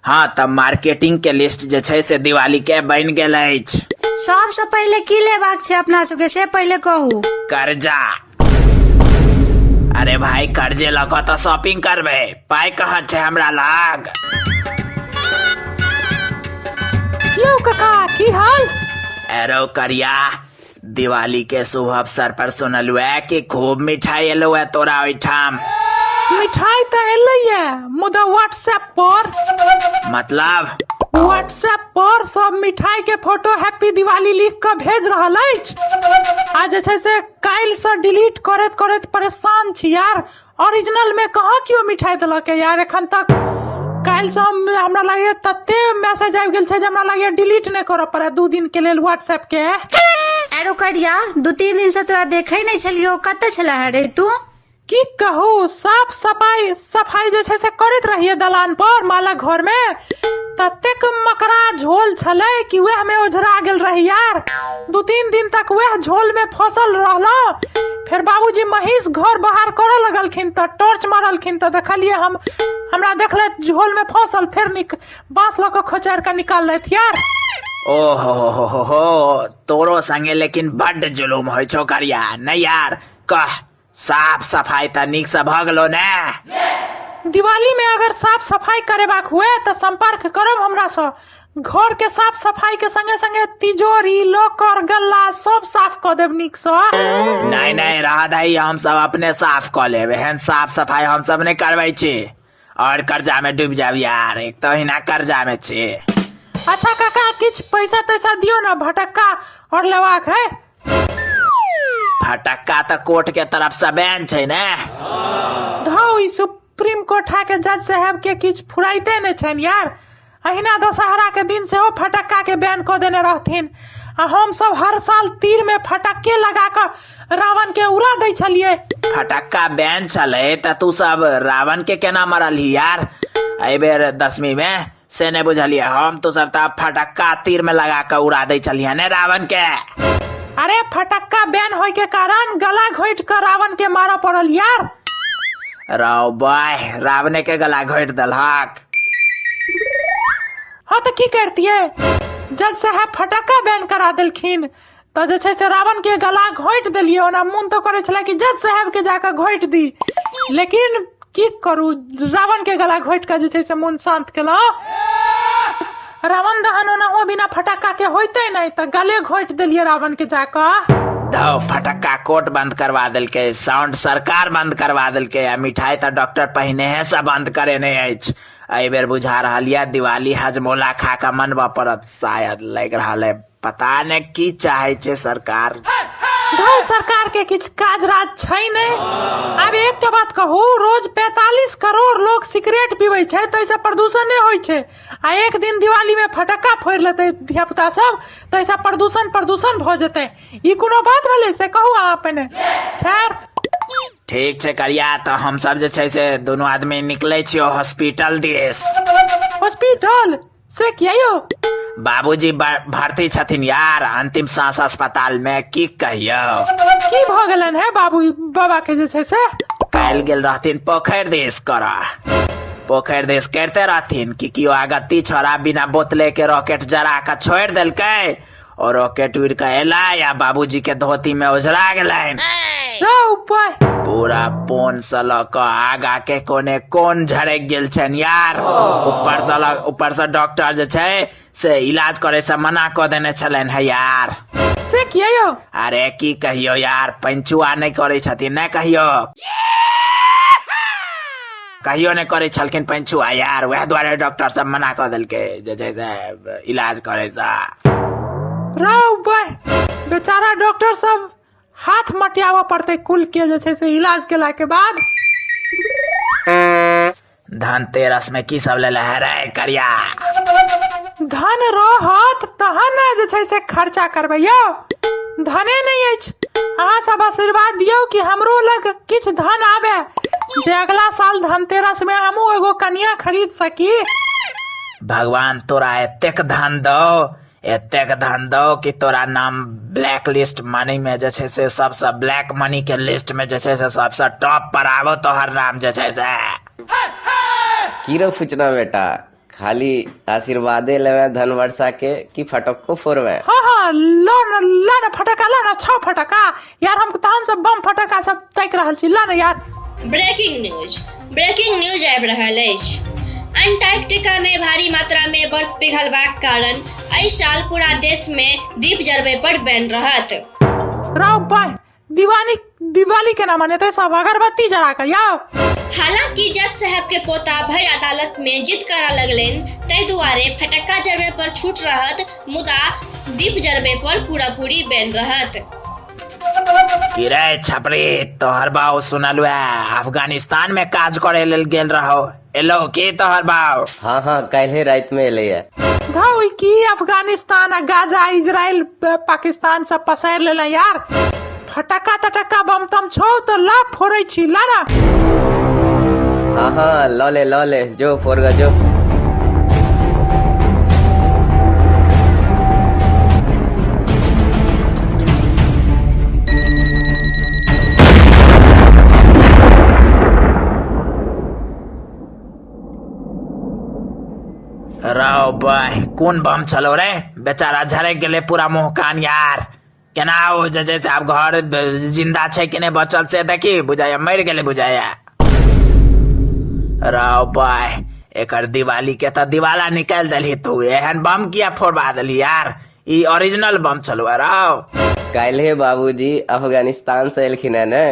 हँ तऽ मार्केटिंग के लिस्ट जे छै से दिवाली के बनि गेल अछि सबसँ पहिले की लेबाक छै अपना सबके से पहिले कहू कर्जा अरे भाई कर्जे लऽ कऽ तऽ शॉपिंग करबै पाइ कहाँ छै हमरा लग यौ कका की हाल एरो करिया दिवाली के शुभ अवसर पर सुनलु है कि खूब मिठाई एलो है तोरा ओठाम मिठाई तो एले है मुदा व्हाट्सएप पर मतलब व्हाट्सएप पर सब मिठाई के फोटो हैप्पी दिवाली लिख के भेज रहल अछि आ जे छै से काल्हि से डिलीट करैत करैत परेशान छी यार ओरिजिनलमे कहाँ केओ मिठाइ देलक यार एखन तक काल्हिसँ हम हमरा लागैए तते मैसेज आबि गेल छै जे हमरा लागैए डिलीट नहि करऽ पड़ै दू दिनके लेल व्हाट्सएपके आर ओकर या दू तीन दिन से तोरा देखे नहीं छलियो कतऽ छला है रे तू की कहू साफ सफाई सफाई जे छै से करैत रहिए दलान पर माला घर मे ततेक मकरा झोल छलै कि वएह मे ओझरा गेल रही यार दू तीन दिन तक वएह झोल मे फसल रहलहुँ फेर बाबूजी महींस घर बाहर करऽ लगलखिन तऽ टॉर्च मारलखिन तऽ देखलियै हम हमरा देखलैथ झोल में फंसल फेर निक बांस लऽ कऽ खोचार कऽ निकाललैथ यार ओहो हो हो हो हो तोरो संगे लेकिन बड्ड जुलूम होइ छौ करिया नै यार कह साफ सफाई तऽ नीक से भऽ गेलो ने दिवाली में अगर साफ सफाई करेबाक हुए तऽ संपर्क करब हमरा सँ घर के साफ सफाई के संगे संगे तिजोरी लॉकर गल्ला सब साफ क देब नीक से नहीं नहीं रहा दही हम सब अपने साफ क लेब एहन साफ सफाई हम सब नहीं करबै छी और कर्जा में डूब जाब यार एक तो हिना कर्जा में छी अच्छा काका किछ पैसा तैसा दियो ना भटक्का और लवाक है फटक्का तो कोर्ट के तरफ से बैन छै ने धौ ई सुप्रीम कोर्ट के जज साहब के किछ फुराइते नहीं छन यार अहिना दशहराके दिन सेहो फटक्काके बैन कऽ देने रहथिन आ हमसभ हर साल तीरमे फटक्के लगा कऽ रावणके उड़ा दै छलियै फटक्का बैन छलै तऽ तू सब रावणके केना मरलही यार एहि बेर दसमीमे से नहि बुझलियै हम तू सब तऽ फटक्का तीरमे लगा कऽ उड़ा दै छलियै ने रावणके अरे फटक्का बैन होइके कारण गला घोटि कऽ रावणके मारऽ पड़ल यार रौ बाय रावणेके गला घोटि देलहक हँ तऽ की करतियै जज साहब फटक्का बैन करा देलखिन तऽ जे छै से रावण के गला घोटि देलियै ओना मोन तऽ करै छलै कि जज साहब के जाकऽ घोटि दी लेकिन की करू रावण के गला घोटि कऽ जे छै से मोन शान्त केलहुँ रावण दहन ओनाहो बिना फटक्का के होइते नहि तऽ गले घोटि देलियै रावण के जाकऽ धौ फटक्का कोर्ट बंद करवा देलकै साउंड सरकार बंद करवा देलकै आ मिठाई तऽ डॉक्टर पहिनेहे से बंद करेने अछि एहि बेर बुझा रहल यऽ दिवाली हजमोला खा कऽ मनबऽ पड़त शायद लागि रहल है पता ने की चाहे छे सरकार गाँव सरकार के किछ काज राज छै ने आब एकटा बात कहू रोज 45 करोड़ लोग सिगरेट पीबै छै ताहिसँ प्रदूषण नहि होइ छै आ एक दिन दिवाली में फटक्का फोड़ लेतै धिया पुता सब ताहिसँ प्रदूषण प्रदूषण भऽ जेतै ई कोनो बात भेलै से कहू अहाँ अपने खैर ठीक छै करिया तऽ हम सब जे छै से दोनों आदमी निकले छियो हॉस्पिटल दिस हॉस्पिटल से किया यौ बाबूजी भर- भर्ती छथिन यार अंतिम सांस अस्पताल में की कहियो की भऽ गेलनि हे बाबू बाबा के जे छै से काल्हि गेल रहथिन पोखरि देश करऽ पोखरि देश करिते रहथिन कि केओ आगत्ती छोड़ा बिना बोतले के रॉकेट जरा कऽ छोड़ि देलकै ओ रॉकेट उड़ के एला या बाबूजी के धोती में उजरा गेलन रौ ऊपर पूरा पोन से लऽ कऽ आगा के कोने कोन झड़क गेल छनि यार ऊपर से लऽ- ऊपर से डॉक्टर जे छै से इलाज करे से मना कऽ देने छलनि है यार से किया यौ अरे की कहियो यार पंचुआ नहि करै छथिन नहि कहियो कहियो नहि करै छलखिन पंचुआ यार वएह दुआरे डॉक्टर सब मना कऽ देलकै जे छै से इलाज करैसँ रौ बह बेचारा डॉक्टर सब हाथ मटियाबऽ पड़तै कुल के जे छै से इलाज केला के बाद धनतेरस में की सब लेले है रे करिया धन रहत तहन ने जे छै से खर्चा करबै यौ धने नहि अछि अहाँ सब आशीर्वाद दियौ कि हमरो लग किछ धन आवे जे अगला साल धनतेरस में हमू एगो कन्या खरीद सकी भगवान तोरा एतेक धन दो एतेक धन दो कि तोरा नाम ब्लैक लिस्ट मनी में जे छै से सबसे ब्लैक मनी के लिस्ट में जे छै से सबसे टॉप पर आबो तोहर नाम जे छै से की रे फुचना बेटा खाली आशीर्वादे लेबै धन वर्षा के कि फटक्को फोड़बै हाँ हाँ लो न लो न फटका लो न छो फटका यार हम तहन सब बम फटका सब ताकि रहल छी लो न यार ब्रेकिंग न्यूज ब्रेकिंग न्यूज आबि रहल अछि अंटार्कटिका में भारी मात्रा में बर्फ पिघलबाक कारण एहि साल पूरा देश में दीप जरबे पर बैन रहत राव बाय दिवाली दिवाली के ना मनेते सब अगरबत्ती जरा के आओ हालांकि जज साहब के पोता भर अदालत में जिद करा लगलन तय दुआरे फटक्का जरबे पर छूट रहत मुदा दीप जरबे पर पूरा पूरी बैन रहत किरे छपरी तोहर बाऊ सुनलुआ अफगानिस्तान में काज करे लेल गेल रहो एलौ के तोहर बाप हँ हँ काल्हे राति में एलै धौ ई की अफगानिस्तान आ गाजा इजराइल प- पाकिस्तान सब पसैर लेले यार फटक्का तटक्का बम तम छौ तो ला फोड़ै छी ला ना हाँ हाँ लऽ ले लऽ ले जो फोड़ ग जो रौ बाय कोन बम छलौ रे बेचारा झड़क गेलै पूरा मुँह कान यार केना ओ जे छै से आब घर जिन्दा छै कि नहि बचल से देखी बुझाइया मरि गेलै बुझाइया रौ बाय एकर दिवाली के तऽ दिवाला निकालि देलही तू एहन बम किया फोड़बा देलही यार ई ओरिजिनल बम चलवा राव काल्हे बाबूजी अफगानिस्तान से एलखिन है ने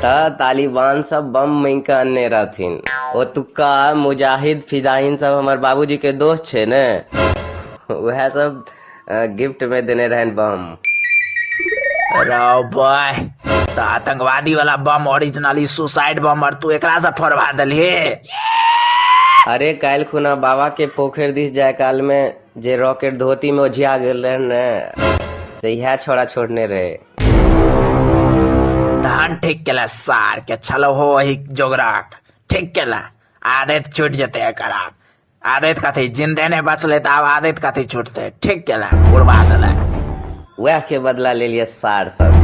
त तालिबान सब बम मांग के अनने रहथिन ओतुका मुजाहिद फिजाहिन सब हमर बाबूजी के दोस्त छै ने उहे सब अ, गिफ्ट में देने रहन बम राव बॉय त आतंकवादी वाला बम ओरिजिनल ई सुसाइड बम और तू एकरा से फोड़वा देलही अरे काल्हि खुना बाबा के पोखरि दिस जाय काल में जे रॉकेट धोती में ओझिया गेल रहे ने से इहे छोड़ा छोड़ने रहे धान ठीक केला सार के छलो हो वही जोगराक ठीक केला आदत छूट जते एकर आब आदत कथी जिंदे ने बचले त आब आदत कथी छूटते ठीक केला बुढ़वा देला वह के बदला ले लिया सार सब